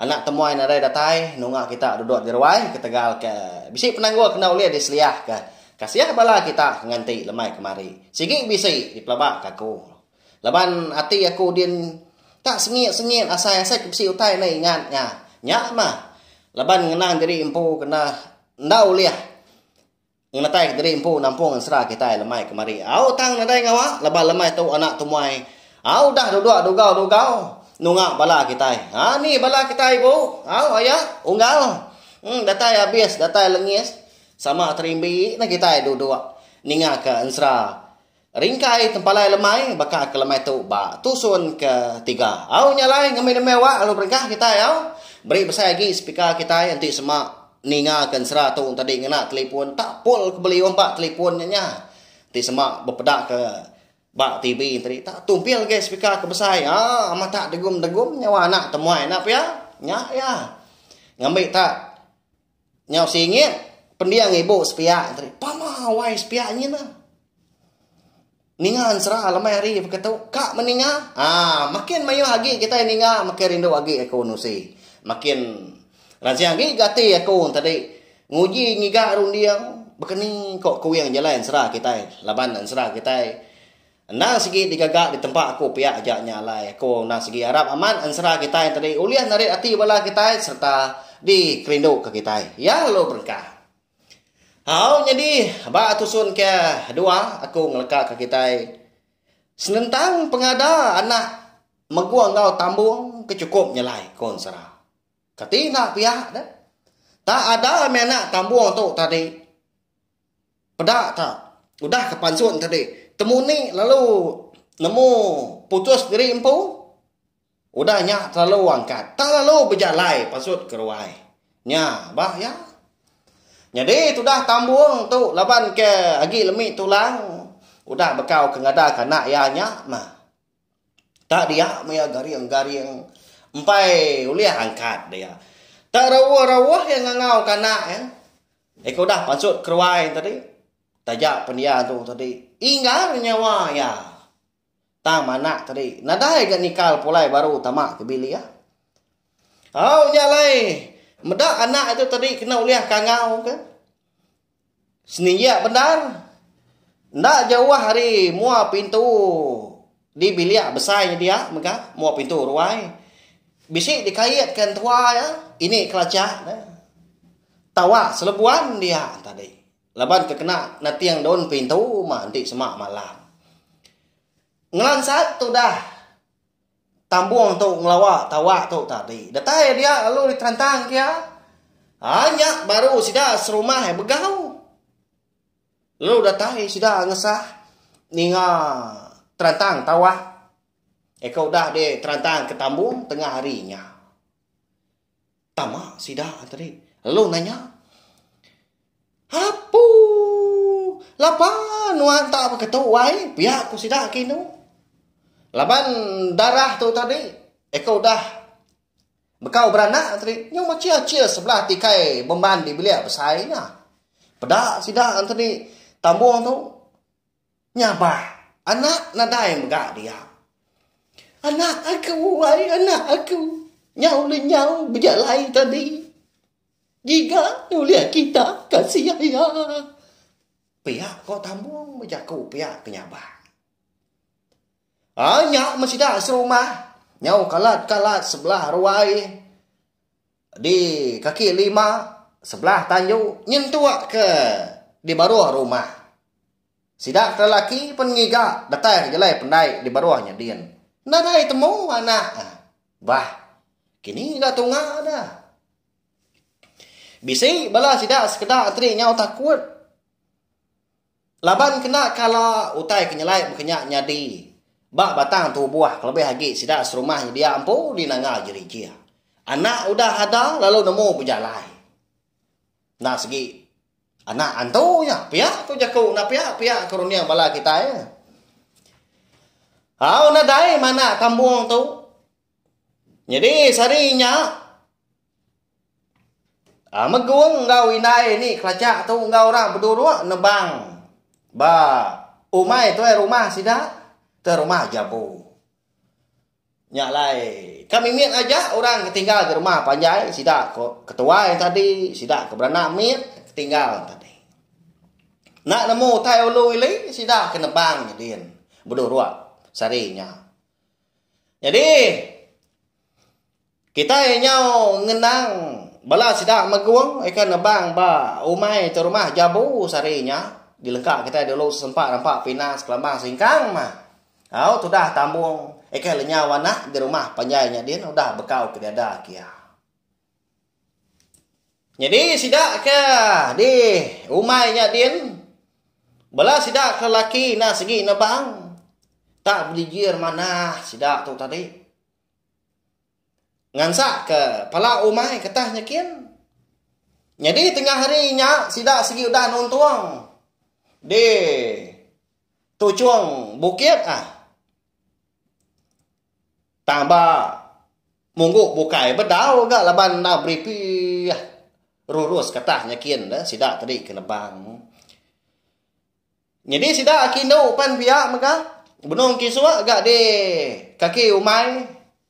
Anak temuai nadai datai nunga kita duduk diruai ketegal ke bisi penanggul kena ulih diseliah ke kasih bala kita ke nganti lemai kemari. Sigi bisi dipelaba ke aku. Laban ati aku din tak sengit sengit asai asai ke bisi utai enda ingat nya. Nya mah. Laban ngenang diri empu kena enda ulih. Ngemetai kediri empu nampung ensera kitai lemai kemari. Au tang nadai ngawa laban lemai tu anak temuai. Au udah duduk dugau-dugau nunga bala kitai. Ha ni bala kitai ibu. Au aya unggal. Em datai abis datai lengis sama terimbi neh kitai duduk ningaka ensera Ringkai tempalai lemai baka ke lemai tu ba tusun ke tiga. Au nya alai ngembi nembiak wak lalu berengkah kitai au. Beri besai agi speaker kitai enti sema ninga ke ensera tu entadi ngena telipon tak pol ke beliuh ba telipon nya nya. Enti sema bepeda ke ba TV entadi tak tumpil agi speaker ke besai aa amat tak degum degum nyawa anak temuai enda pia. Nya iya. Ngembi tak. Nyau singit, pending ibu sepiak tadi. Pama wai sepiak nyin ah. Ninga ensera lemai hari beketu. Ka meninga. Ah, makin mayuh agi kita ninga, makin rindu agi aku nusi. Makin ransing agi ga ati aku tadi. Nguji ngiga runding. Baka ni ko kuing jalai ensera kitai. Laban ensera kitai. Endang sigi digaga di tempa aku pia aja nya alai aku endang sigi arap amat ensera kitai tadi ulih narit ati bala kitai sereta dikerinduka kitai. Ya lalu berengkah. Au nyadi ba tusun ke dua aku ngelekaka kitai senentang pengada anak megung enggau tambung ke chukup nyelai ku ensera. Kati enda pia deh. Tak ada mih anak tambung tu tadi. Peda ta, udah ke pansun tadi, temu ni lalu nemu putus diri empu, udah nya terlalu angkat, tak lalu bejalai pasut ke ruai. Nya ba iya. Nyadi tudah tambung tu laban ke agi lemi tulang udah bekau ke ngadak anak iya nya mah. Tak dia maya garing-garing empai ulih angkat dia. Tak rauh-rauh iya ngangau kanak iya. Eko udah pansut keruai tadi. Taja pen iya tu tadi inggar nyawa iya. Tang manak tadi nadai ga nikal pulai baru tama ke bilik. Au nya alai meda anak iya tu tadi kena ulih kangau ke. Seniak bendar. Enda jauh ari mua pintu di bilik besai nyedia mega mua pintu ruai. Bisi dikaitka entua iya ini kelajak ne tawa selebuan dia tadi laban ke kena nating daun pintu uma enti sema malam. Ngelansat tudah Tambung tu ngelawa tawa tu tadi. Datai dia lalu diterantang ke iya. Ha nya baru sida serumah eh begau. Lalu datai sida ngesah ninga terantang tawa. Eka udah diterantang ke tambung tengah hari nya. Tama sida tadi lalu nanya, Apu! Lapa nuan tak beketu ai pia ku sida ke inu? Laban darah tu tadi eko udah bekau beranak tadi nyau machir-achir sebelah tikai beman di bilik besai nya. Peda sida tadi tambung tu. Nya bah, anak nadai mega dia. Anak aku, ai anak aku, nya ulih nyau bejalai tadi. Giga ulih kita kasih iya. Pia ko Tambong bejaku pia ke nya bah. Ai nya meh sida serumah, nyau kalat-kalat sebelah ruai. Di kaki lima sebelah tanju nyentuk ke di baruh rumah. Sida ke laki pen ngiga datai ke jalai pendai di baruh nya din. Enda nadai temu anak. Bah kini ga tunga dah. Bisi bala sida sekeda enteri nyau takut. Laban kena kala utai ke nyelai baka nya nyadi ba batang tubuh kelebih agi sida serumah nyedia empu di nanga gerija. Anak udah ada lalu nemu bejalai. Enda segi anak antu nya pia ku jaku enda pia pia ku runding bala kitai. Au nadai manak tambung tu. Nyadi sehari nya Megung enggau indai nih kelaja tu enggau orang beduruk nebang ba umai tuai rumah sida tuai rumah jambu nya alai ka mimit aja orang ke tinggal ba rumah panjai sida ko ketuai tadi sida ko beranak mit tinggal tadi nak nemu utai ulu ili sida ke nebang din beduruk sehari nya jadi. Kitai nyau ngenang bala sida megung ika nebang ba umai te rumah Jabu sehari nya. Dilengka kitai dulu sesempa rampa pinang sekelambang singkang mah. Au tudah tambung ika le nyau anak di rumah panjai nya din udah bekau ke diada kia. Nyadi sida ke di umai nya din bala sida ke laki enda sigi nebang tak bejijir manah sida tu tadi. Ngansakka pala umai ketah nyekin. Nyadi tengah hari nya sida sigi udah nuntung di tuchung bukit ah. Tang ba munggu bukai bedau ga laban enda beripi rurus ketah nyekin deh sida tadi ke Lebang. Nyadi sida aki endu pan pia mega benung kisuk ga di kaki umai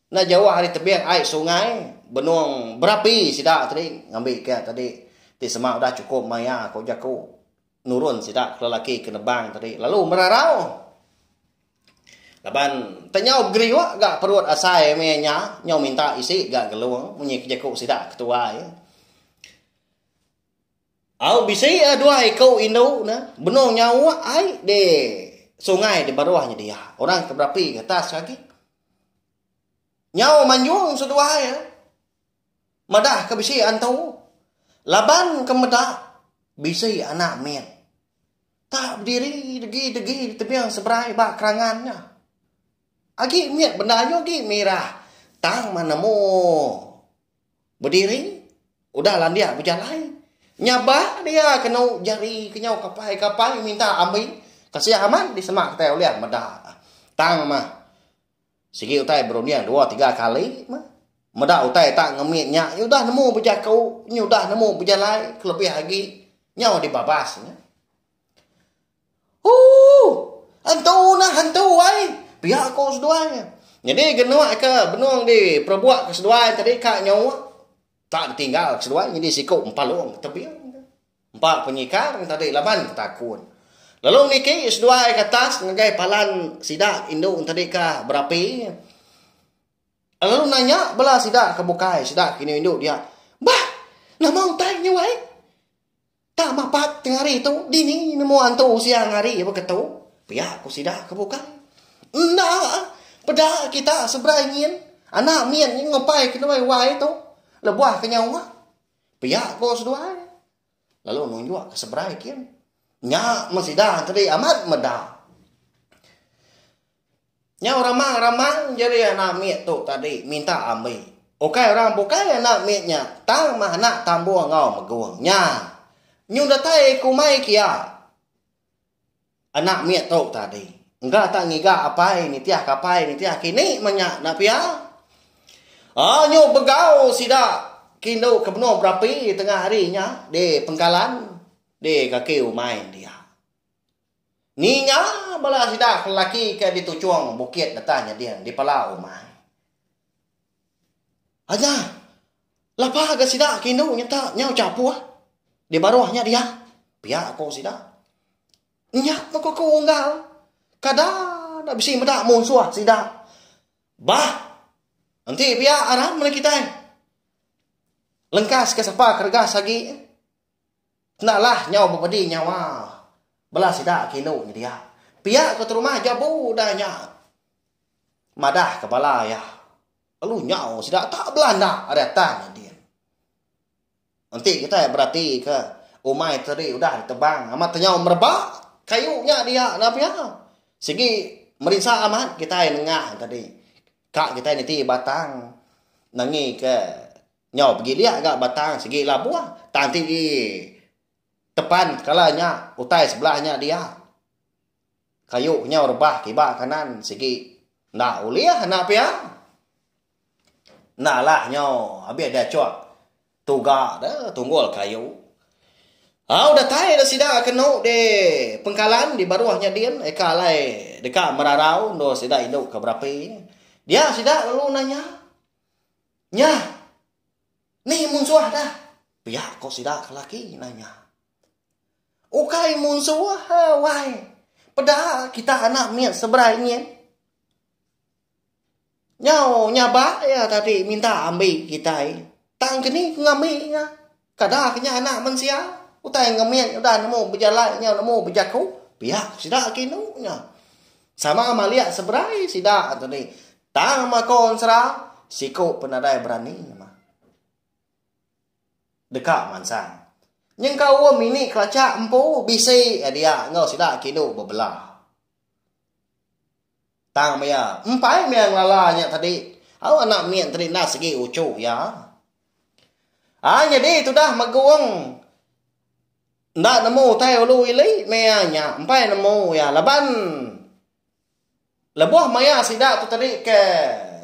enda jauh ari tebing ai sungai benung berapi sida tadi ngambi ke tadi ti sema udah chukup maya ko jaku nurun sida ke lelaki ke nebang tadi lalu merarau laban enta nyau begeriuk ga perut asai meh nya nyau minta isi ga gelung munyi ke jaku sida ke tuai. Au bisi a dua iku indu ne benung nyauk ai di sungai di baruh nyadi iya. Orang ke berapi ke atas agi. Nyau manjung seduai iya. Madah ke bisi antu. Laban ke meda bisi anak mit. Tak bediri degi-degi di tebing seberai ba kerangan nya. Agi mit benda nyu agi mirah tang manemu. Bediri udah landik bejalai. Nya ba dia kenu jari kenyau kapai-kapai minta ambi kasih amat disemak kitai ulih meda. Tang mah sigi utai berunding dua tiga kali mah meda utai tak ngemit nya udah nemu bejaku udah nemu bejalai kelebih agi nyau dibabas nya. Ooh! Hantu nah hantu ai! pia ko seduai. Nyadi genuk ke benung di perebuk ke seduai tadi ka nyauk tak ditinggal ke seduai nyadi siku empalung tebing ke. Empa penyikar tadi laban betakun. Lalu niki seduai ke atas ngagai palan sida indu tadi ka berapi lalu nanya bala sida ke bukai sida ke indu dia, Bah! Nama utai nya weh? Tang mapat tengah hari tu, dini nemu antu siang hari ba ketu? Pia ku sida ke bukai. Enda, peda kita seberai nyin. Anak min nyin ngupai ke ndoi wai tu, lebuh ke nyau uma. Pia ko seduai. Lalu nunjuk ke seberai kin. Nya men sida enti amat meda. Nyau ramang-ramang jeri anak mit tu tadi minta ambi. Ukai orang bukai anak mit nya tang mah anak tambung enggau megung nya. Nyung datai kumai kia anak mit tu tadi. Engka tak ngiga apai nitih ke apai nitih ke ini mah nya enda pia. Oh nyung begau sida ke indu ke benung berapi tengah hari nya di pengkalan di kaki umai dia. Ninga bala sida ke lelaki ke dituchong bukit deka nyeding di pala umai. Aja lapa ga sida ke indu nyeta nyau chapuh di baruh nya dia, pia ko sida. Nya meh ko aku Unggal, kada enda bisi meda munsuh sida. Bah, enti pia aram meri kitai. Lengkas ke sapa ke regas agi. Enda lah nyau bepedi nyawa bela sida ke indu nyedia. Pia ku Terumah Jabu udah nya madah ke bala iya lalu nyau sida tak belanda ari atas nyadin. Enti kitai berati ke umai tadi udah ditebang amat tenyau mereba kayu nya dia enda pia. Sigi merinsa amat kitai nengah tadi ka kitai niti batang nangi ke. Nyau pegi dia ga batang segi labuh tang ti di tepan kala nya utai sebelah nya dia. Kayu ke nyau rebah kiba kanan segi enda ulih enda pia. Enda lah nyau abih dia cuk tuga de tunggul kayu. Au datai de sida kenu di pengkalan di baruh nya din eka alai deka merarau endur sida indu ke berapi. Dia sida lalu nanya. Nya! Ni munsuah dah! pia ko sida ke laki nanya. Ukai munsuah wai, peda kita anak mit seberai nyin. Nyau nyabak iya tadi minta ambi kitai, tang ke ni ke ngambi nya. Kadak nya Anak Mensia, utai ngemik udah nemu bejalai nyau nemu bejaku, pia ku sida ke indu nya. Sama malik seberai sida tu dih, tang mako ensera siku pun nadai berani nyema deka mansang. Nyengkaum ini kelachak empu bisi iya dia enggau sida ke indu bebelah. Tang maya empai maya ngelala nya tadi, au anak mit enti enda sigi uchu iya. Ai nyadi tudah Magong enda nemu utai ulu ili maya nya empai nemu iya laban lebuh maya sida tu tadi ke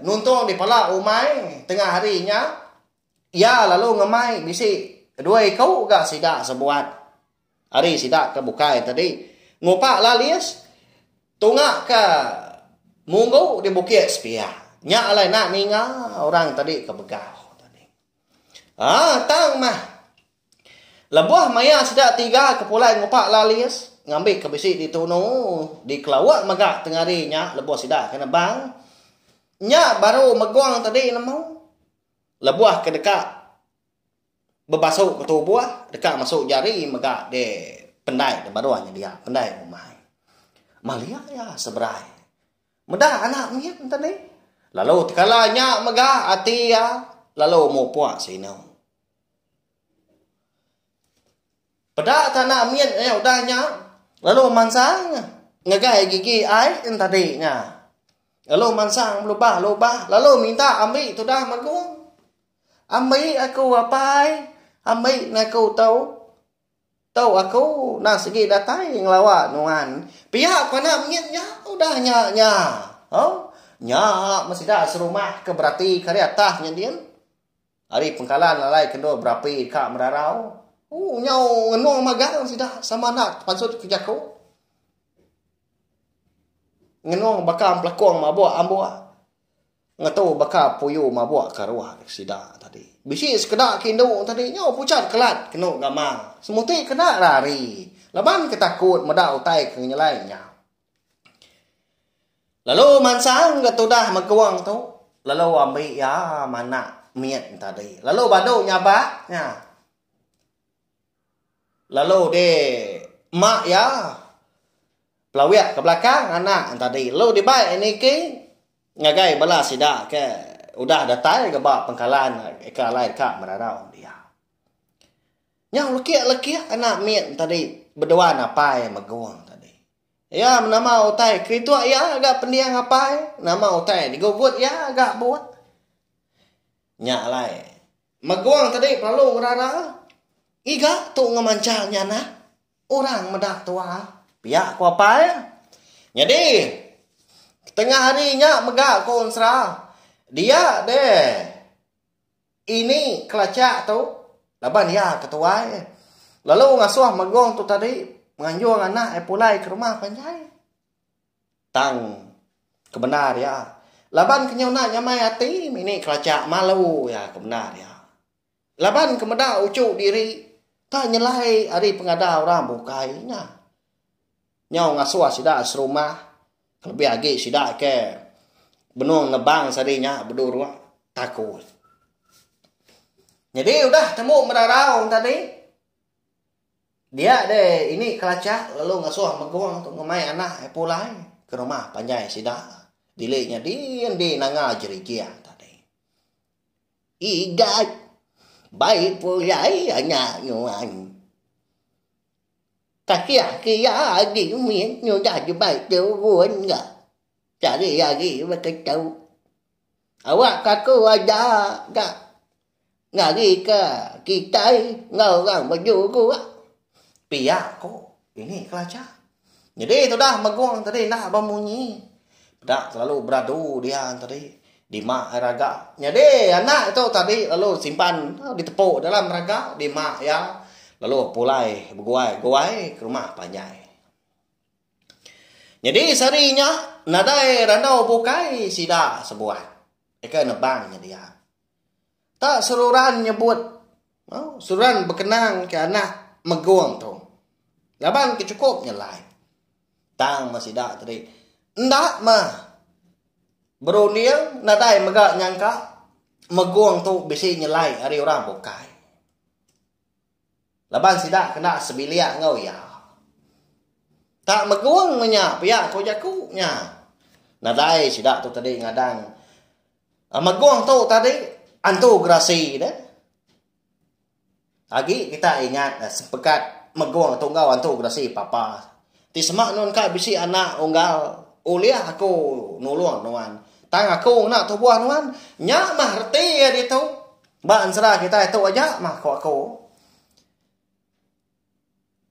nuntung dipala umai tengah hari nya iya lalu ngemai bisi dua iku ga sida sebuat. Ari sida ke bukai tadi ngupak lalis tunga ke munggu di bukit sepiak. Nya alai enda ninga orang tadi ke begau tadi. Ah tang mah. Lebuh maya sida tiga ke pulai ngupak lalis ngambi ke bisi di tunu di kelauk mega tengah hari nya lebuh sida ke nebang. Nya baru megong tadi nemu. Lebuh ke deka Bebasuk betubuh deka masuk jari mega de pendai de baruh nyedia pendai rumah. Malia iya seberai meda anak mit enten ih lalu tekala nya mega ati iya lalu mupuk sinu. Peda ka anak mit nya udah nya lalu mansang ngegai gigi ai en tadi nya lalu mansang belubah lubah lalu minta ambi tudah magung. Ambi aku apai ambi ngaku tu tu aku enda segi datai ngelawa nuan pia ku anak mengit nya udah nya nya ho nya meh sida serumah ke berati ke ari atah nya din ari pengkalan alai ke endur berapi ka merarau ooh nyau ngenung magang sida sama enda tepansut ke jaku ngenung baka pelakung mabuk ambok. Ngetu baka puyu mabuk ke ruah dek sida tadi. Bisi sekeda ke indu tadi nyau pucat kelat kenu gama. Semuti kena lari laban ke takut meda utai ke ngenyelai nya. Lalu mansang ga tudah megung tu lalu ambi iya manak mit tadi. Lalu badu nyabak nya. Lalu di mak iya pelawik ke belakang anak tadi. Lalu dibai niki. Ngagai bala sida ke udah datai ke ba pengkalan ke alai deka merarau dia. Nyau lekih-lekih anak mit tadi beduan apai Megung tadi. Iya menama utai kerituk iya ga pending apai, nama utai digugut iya ga buk. Nya alai Megung tadi lalu ngerara ngiga tu ngemancha nya nah. Orang meda tua, pia ku apai. Nyadi, ketengah hari nya mega ku Unsra, dia deh ini kelachak tu laban iya ke tuai. Lalu ngasuh Magong tu tadi nganjung anak iya pulai ke rumah panjai. Tang kebendar iya, laban ke nyuna nyamai ati mih ni kelachak malu iya ke bendar iya. Laban ke meda uchu diri ka nyelai ari pengada orang bukai nya. Nyau ngasuh sida serumah kelebih agi sida ke benung nebang sadi nya beduruk takut. Nyadi udah tembu merarau tadi dia deh ini kelachak lalu ngasuh megung tu ngemai anak iya pulai ke rumah panjai sida. Dili nya din di nanga jerijing. Igat bai pulai nya nuan. Takiah kia agi mit nyudah jebai turun ga cari agi beketu. Awak kaku aja ga ngarika kitai enggau orang bejuruk. Pia ko ini kelacha. Nyedi tudah megung tadi enda ba munyi. Peda selalu beradu dia tadi. Dima ai raga. Nyedi anak tu tadi lalu simpan ditepu dalam raga dima iya lalu pulai beguai-guai ke rumah panjai. Nyedi sehari nya nadai randau bukai sida sebuah. Deka nebang nyadi iya. Ka seruran nyebut seruran bekenang ke anak Megong tu laban ke chukup nyelai. Tang meh sida tadi enda meh berunding nadai mega nyangka Megong tu bisi nyelai ari orang bukai. Laban sida kena sebilik enggau iya. Tak Megong meh nya pia ko jaku nya. Nadai sida tu tadi ngadang Megong tu tadi antu gerasi ne. Agi kita ingat sepekat megong tu enggau antu gerasi papa ti sema nuan ka bisi anak unggal ulih aku nulung nuan tang aku ngena tubuh nuan nya mah reti iya ditu ba ensera kitai tu aja mah ku aku.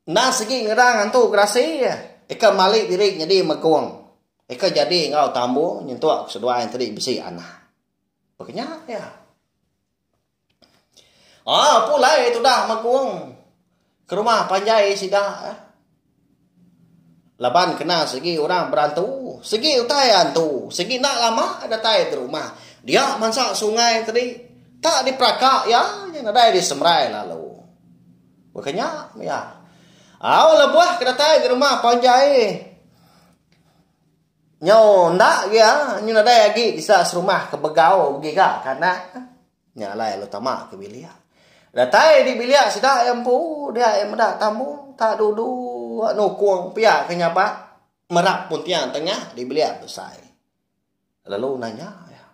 Endang sigi ngerang ngantu gerasi ika mali diri nyadi mekung ika jadi enggau tambu nyentuk seduai enti bisi anak. Baka nya iya. Aaa pulai tudah mekung ke rumah panjai sida. Laban kena sigi orang berantu, sigi utai antu, sigi enda lama datai ke rumah dia mansa sungai tadi tak diperaka iya nya nadai disemerai lalu. Baka nya mia. Au lebuh ke datai ke rumah panjai nyau enda gia, nyau nadai agi disa serumah ke begau giga ke anak. Nya alai lalu tama ke bilik. Datai di bilik sida iya empu dia iya meda tamu tak dudu nukung pia ke nyabak merap puntiang tengah di bilik besai. Lalu nanya iya.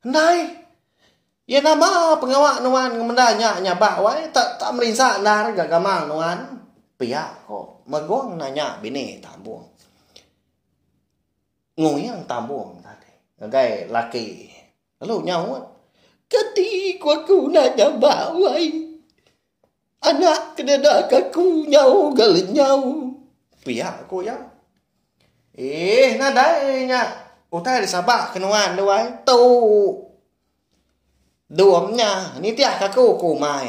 Ndai. Iya nama pengawa nuan ngemenda nya nyabak wai tak tak merinsa endar ga gamal nuan? pia ko Magong nanya bini Tambong. Ngunyang tambung tadi ngagai laki lalu nyaut. Kati ku aku enda nyamba wai. Anak kenedak aku nyau ga lenyau. Pia ku iya. Eeh nadai nya utai da sabak ke nuan tu ai. Tu. Dom nya nitihka aku ke umai.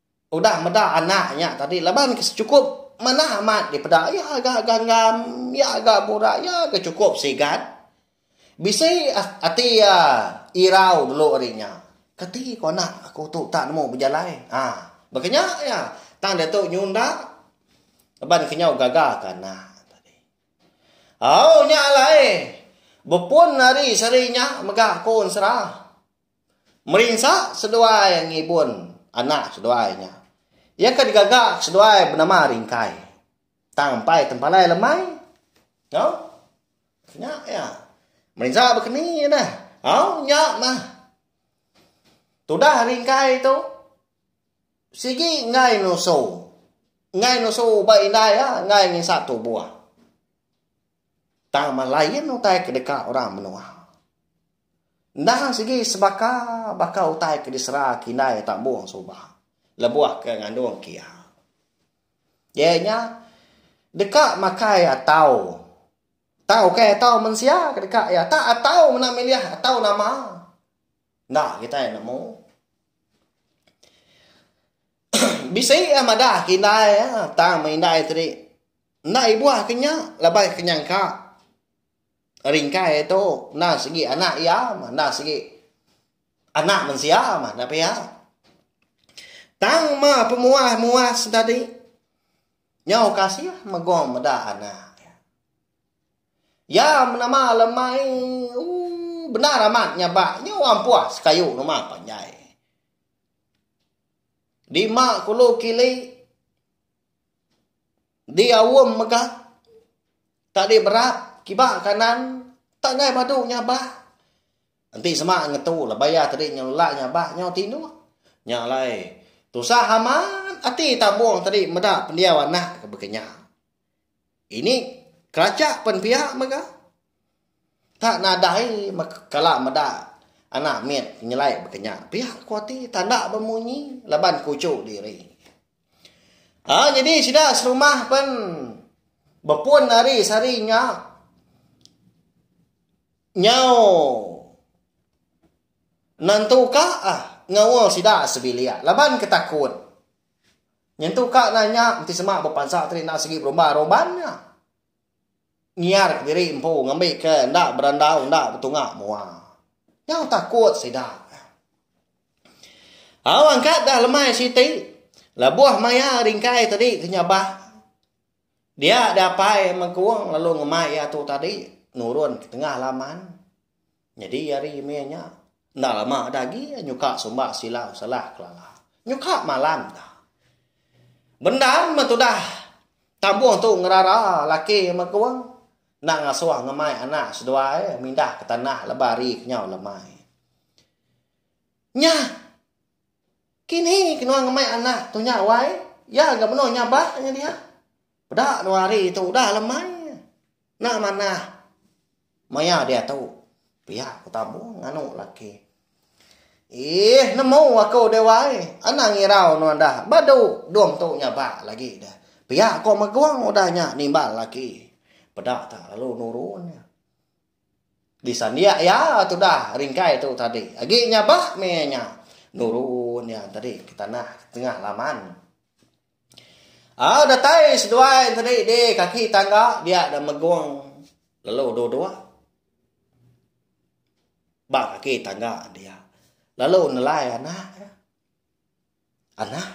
Udah meda anak nya tadi laban ke sechukup manah amat dipeda iya ga ganggam iya ga burak iya ga chukup sigat. Bisi ati iya irau dulu ari nya. Kati ku anak aku tu tak nemu bejalai. Haa baka nya iya tang diatu nyunda laban ke nyau gaga ke anak. Au nya alai bepun ari seri nya mega aku ensera. Merinsa seduai ngibun anak seduai nya. Iya ke digaga ke seduai benama Ringkai. Tang empai tempalai lemai. Au. Nya iya. Merinsa bekeni neh. Au nya mah. Tudah Ringkai tu sigi enggai nusu. Enggai nusu ba indai iya, enggai nginsap tubuh. Tang malain utai ke deka orang menua. Enda sigi sebaka baka utai ke disera ke indai tambung suba lebuh ke ngandung kia. Iya nya deka makai atau tang ukai atau mensia ke deka iya tak atau mena milih atau nama enda kitai nemu. Bisi a madah ke indai tang meh indai tadi. Enda ibuh ke nya laban ke nyangka Ringkai tu enda sigi anak iya mah enda sigi anak mensia mah enda pia. Tang mah pemuah muas tadi nyau kasih megong meda anak iya. Iya menama lemai ooh bendar amat nya ba nyau ampuas kayu rumah panjai. Dima kulu kili. Di aum mega tak di berap kiba kanan tak angai badu nyabak enti sema ngetu lah bayar tadi nyau lelak nyabak nyau tinduh nya alai tusah amat ati tambung tadi meda pendiau anak ke baka nya. Ini keracha pen pia mega. Tak nadai kala meda anak mit nyelai bekenya pia ku ati tanda bemunyi laban kuchu diri. Ha jadi sida serumah pen bepun ari sari nya nyau nentuka ah ngaul sida sebilik laban ketakut. Nyentuk ka nanya enti sema bepansa tadi enda sigi berumban, rumban nya. Ngiar ke diri empu ngambi ke enda berandau enda betunga mua. Nyau takut sida. Au angkat dah lemai siti lebuh maya ringkai tadi ke nyabah dia dapai mengkung lalu ngemai ia tu tadi nurun ke tengah laman. Nyadi ari meh nya, enda lama da agi nyuka sumba sila usalah Kelala. Nyuka malam da. Bendar meh tudah tambuh tu ngerara laki Mekung enda ngasuh ngemai anak seduai mindah ke tanah lebuh hari ke nyau lemai. Nya kini ke nuan ngemai anak tu nya wai, iya ga menoh nyabak nya dia. Peda dua hari tu udah le mai. Enda manah. Maya diatu. Pia ku Tambung nganu laki. Iih nemu aku dewa ai. Anang irau nuan dah. Badu dum tu nyabak lagi dah. Pia ko Megung udah nya nimbal laki. Peda tak lalu nuru nya. Disandik iya tudah ringkai tu tadi. Agi nyabak meh nya. Nuru nya tadi ke tanah tengah laman. Au datai seduai enti dei di kaki tangga dia da megung lalu dua dua ba kaki tangga dia lalu nelai anak dia anak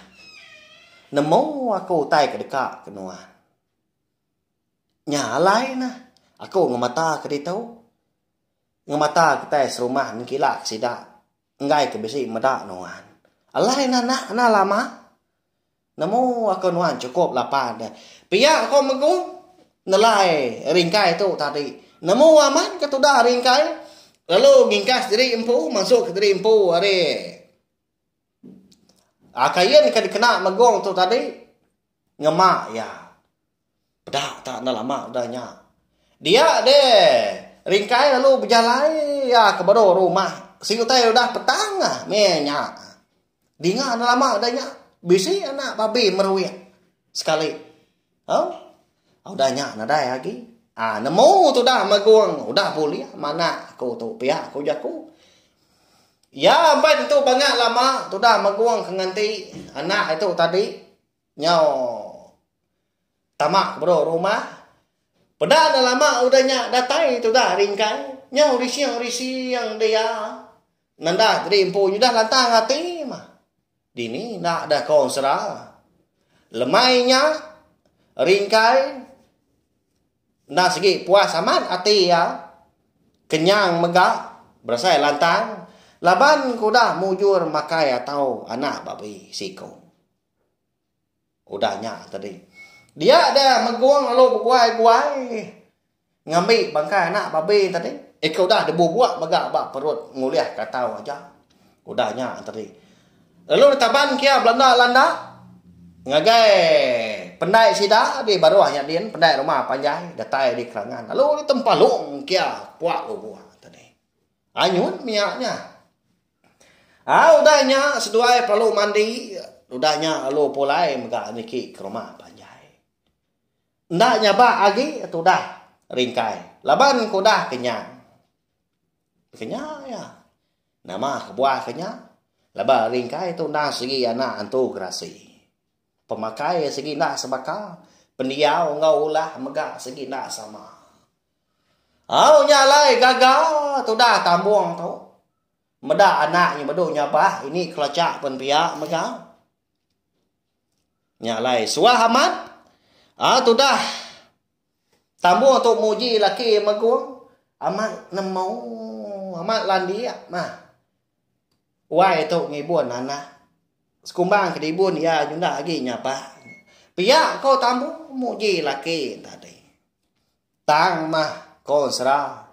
nemu aku utai ke deka ke nuan nya alai ne aku ngemata ke ditu ngemata kitai serumah mengkila ke sida. Enggai ke bisi meda nuan. Alai enda anak enda lama. Nemu aku nuan chukup lapan deh. Pia aku megu nelai ringkai tu tadi. Nemu aman ke tudah ringkai lalu ngingkas diri empu masuk diri empu ari kain ke dikena megong tu tadi ngema iya. Peda tak enda lama udah nya. Dia deh. Ringkai lalu bejalai iya ke baru rumah. Si utai udah petang ah meh nya. Dinga enda lama udah nya bisi anak babi meruik sekali. Au. Udah nya nadai agi. Ah nemu tudah magung udah bulih manak aku tu pia ku jaku. Iya empai tentu bangak lama tudah magung ke nganti anak itu tadi. Nyau tama bro rumah. Peda ne lama udah nya datai tudah ari engkai. Nyau rising rising dia. Nendah tadi empu nyudah lantang ati mah. Dini enda dah ko sera. Lemai nya ringkai enda segi puas amat ati iya. Kenyang mega berasai lantang laban ke udah mujur makai atau anak babi siko. Udah nya tadi. Dia da megung lalu beguai-guai ngambi bangkai anak babi tadi. Ika udah dibubuk mega ba perut ngulih ka tau aja. Udah nya tadi. Lalu ditaban kia belanda-landa ngagai pendai sida di baruh nya din, pendai rumah panjai datai di kerangan lalu ditempalung kia puak lubuk tadi. Anyun mia nya. Au udah nya seduai perlu mandi udah nya lalu pulai mega niki ke rumah panjai. Enda nyabak agi tudah ringkai laban ke udah kenyang. Kenya iya nama kebuah ke nya laban ringkai tu enda segi anak antu gerasi. Pemakai segi enda sebaka, pendiau enggau ulah mega segi enda sama. Au nya alai gaga tudah tambung tu. Meda anak nya bedu nyabah ini kelacha pen pia mega. Nya alai suah amat. Ah ha, tudah. Tambu tu muji laki megong. Amat nemu. Amat landik. Nah. Wai tu ngibun anak. Sekumbang ke dibun ia nyunda lagi nyabah. Pia ko tambu muji laki tadi. Tang mah ko sera.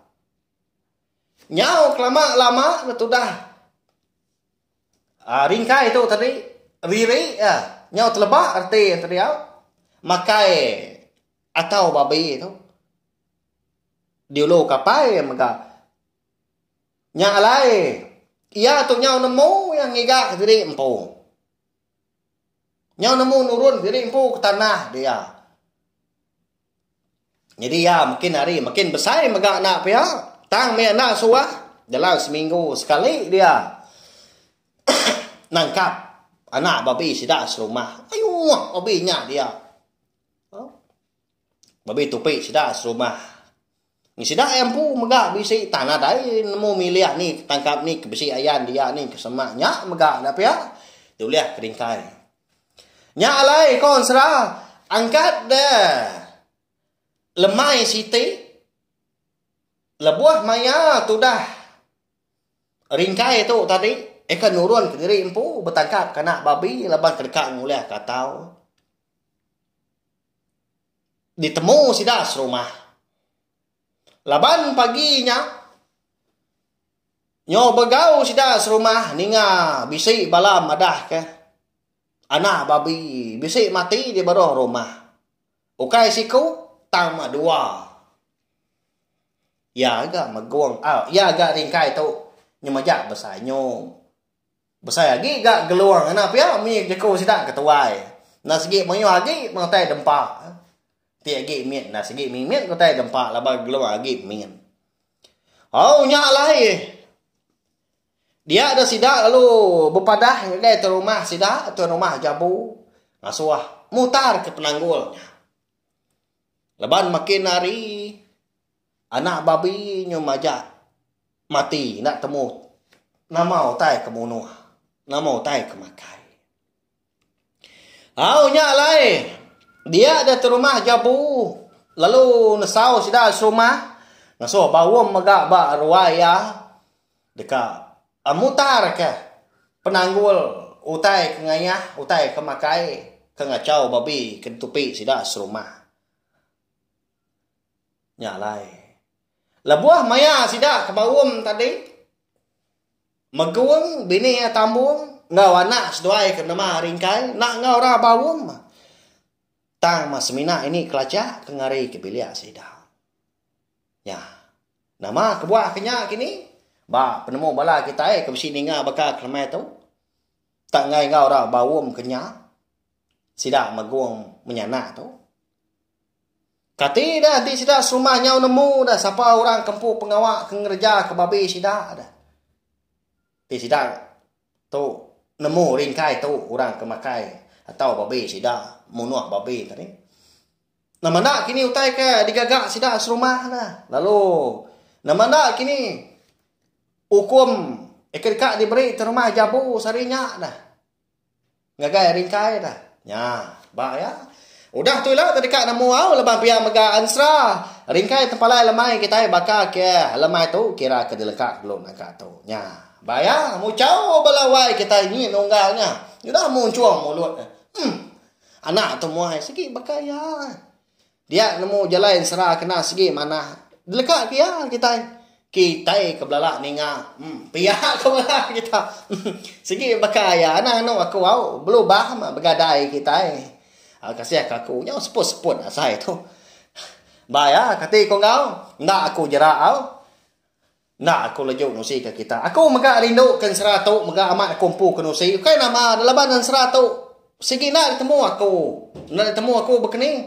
Nyau kelama lama betudah aaa ringkai tu tadi riri iya nyau teleba reti enti diau makai atau babi tu diulu kapai iya mega nya alai iya tu nyau nemu iya ngiga kediri empu nyau nemu nurun diri empu ke tanah dia. Nyadi iya makin hari makin besai mega anak pia tang mih enda suah dalam seminggu sekali dia nangkap anak babi sida serumah. Ayuh babi nya dia. Babi tupi sida serumah. Ni sida ai empu mega bisi tanah dai nemu milih ni ke tangkap ni ke bisi ayan dia ni ke semak nya mega enda pia ti ulih ke ringkai. Nya alai ko ensera angkat da lemai siti lebuh maya tudah ringkai tu tadi eka nurun ke diri empu betangkap ke anak babi laban ke deka ngulih ke atau. ditemu sida serumah. Laban pagi nya nyo begau sida serumah ninga bisi bala madahka anak babi bisi mati di beruh rumah. Ukai siku tang meh dua. Iya ga megung au iya ga ringkai tu nyemeja besanyum. Besai agi ga Gelung ngena pia mih jeku sida ke tuai. Enda segi mayuh agi utai dempa. Ti agi mit enda segi mimit ke utai dempa laban Gelung agi mit. Au nya alai eh. Dia deh sida lalu bepadah ngagai tuan rumah sida, tuan rumah Jambu ngasuh mutarka penanggul nya. Laban makin hari. Anak babi nyu majak mati enda temu nama utai ke munuh, nama utai ke makai. Au nya alai dia deh te rumah jabu lalu nesau sida serumah ngasuh ba rum mega ba ruai iya deka mutarka penanggul utai ke ngayah, utai ke makai ke ngachau babi ke netupi sida serumah. Nya alai, lebuh maya sida ke baum tadi Megung, bini iya Tambung enggau anak seduai ke benama Ringkai enda enggau ra baum tang meh semina ini kelachak ke ngarika bilik sida. Nya nama kebuah ke nya kini ba penemu bala kitai ke bisi ninga baka ke lema tu tang enggai enggau ra baum ke nya sida Megung menyanak tu. Kati dah enti sida serumah nyau nemu dah sapa orang ke empu pengawa ke ngereja ke babi sida dah. Ti sida tu nemu ringkai tu orang ke makai atau babi sida munuh babi tadi. Nama enda kini utai ke digaga sida serumah dah. Lalu nama enda kini ukum ke deka diberi terumah jabu sehari nya dah. Ngagai ringkai dah. Nya ba iya. Udah tu ila tedeka nemu au leban pia mega ansra. Ringkai tepalai lemai kitai baka ke lemai tu kira ke dileka belu naka tu. Nya ba iya. Muchau bala wai kitai nyi nunggal nya. Udah munchung mulut. Umm. Anak tu muai sigi baka iya. Dia nemu jalai ensera kena segi manah. Deleka ke iya kitai. Kitai ke belala ninga. Hmm, pia ke bala kita. segi baka iya anang anu aku au belubah mah begadai kitai. Ah, kasih ke aku nyau seput-seput asai tu. Ba iya, kati ku enggau? Enda aku jera au. Enda aku leju ngusi ke kita. Aku mega rindu ke ensera tu mega amat aku empu ke nusi. Ukai nama dah laban ensera tu sigi enda ditemu aku. Enda ditemu aku bekeni.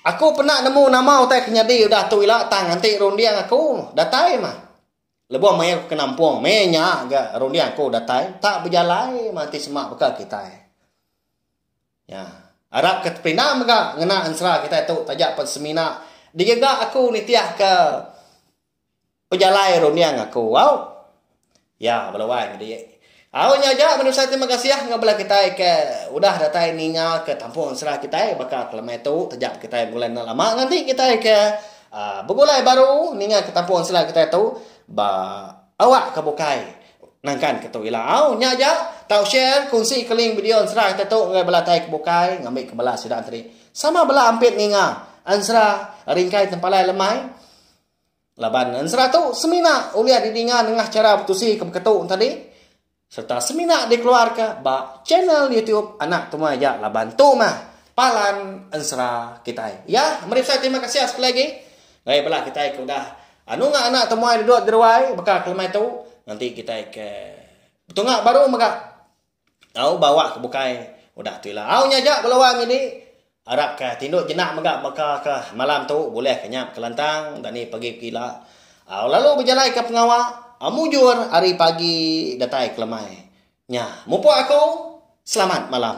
Aku pernah nemu nama utai ke nyadi udah tu ila tang enti runding aku datai mah. Lebuh maya aku ke nampung meh nya ga runding aku datai tak bejalai mah enti sema baka kitai. Nya. Arap ke teperindah mega ngena ensera kitai tu taja pen semina digaga aku nitih ke Pejalai runding aku au. Ya bala wai nyadi. Au nya aja meh nusa terima kasih enggau bala kitai ke udah datai ninga ke kampung sera kitai baka ke lemai tu taja pun kitai begulai enda lama nganti kitai ke aaa begulai baru ninga ke kampung sera kitai tu ba awak ke bukai nangkan ke tu ila au. Nya aja tau share kongsi ke link video ensera kitai tu enggau bala tai ke bukai ngambi ke bala sida enti. Sama bala ampit ninga ensera ringkai tempalai lemai. Laban ensera tu semina ulih didinga nengah chara betusi ke beketu enti tadi sereta semina dikeluarka ba channel YouTube anak tuai ja laban tu mah palan ensera kitai. Ya, meri besai terima kasih sekali lagi ngagai bala kitai ke udah anu ngak anak tuai duduk di ruai baka kelemai tu nganti kitai ke betunga baru mega. Tau bawa ke bukai udah tu ila. Au nya aja beluan nyadi arap ka tindu jenak mega baka ka malam tu bulih ka nyap kelantang enda ni pagi pekila. Au lalu bejalai ka pengawa au mujur ari pagi datai ke lemai. Nya mupuk aku selamat malam.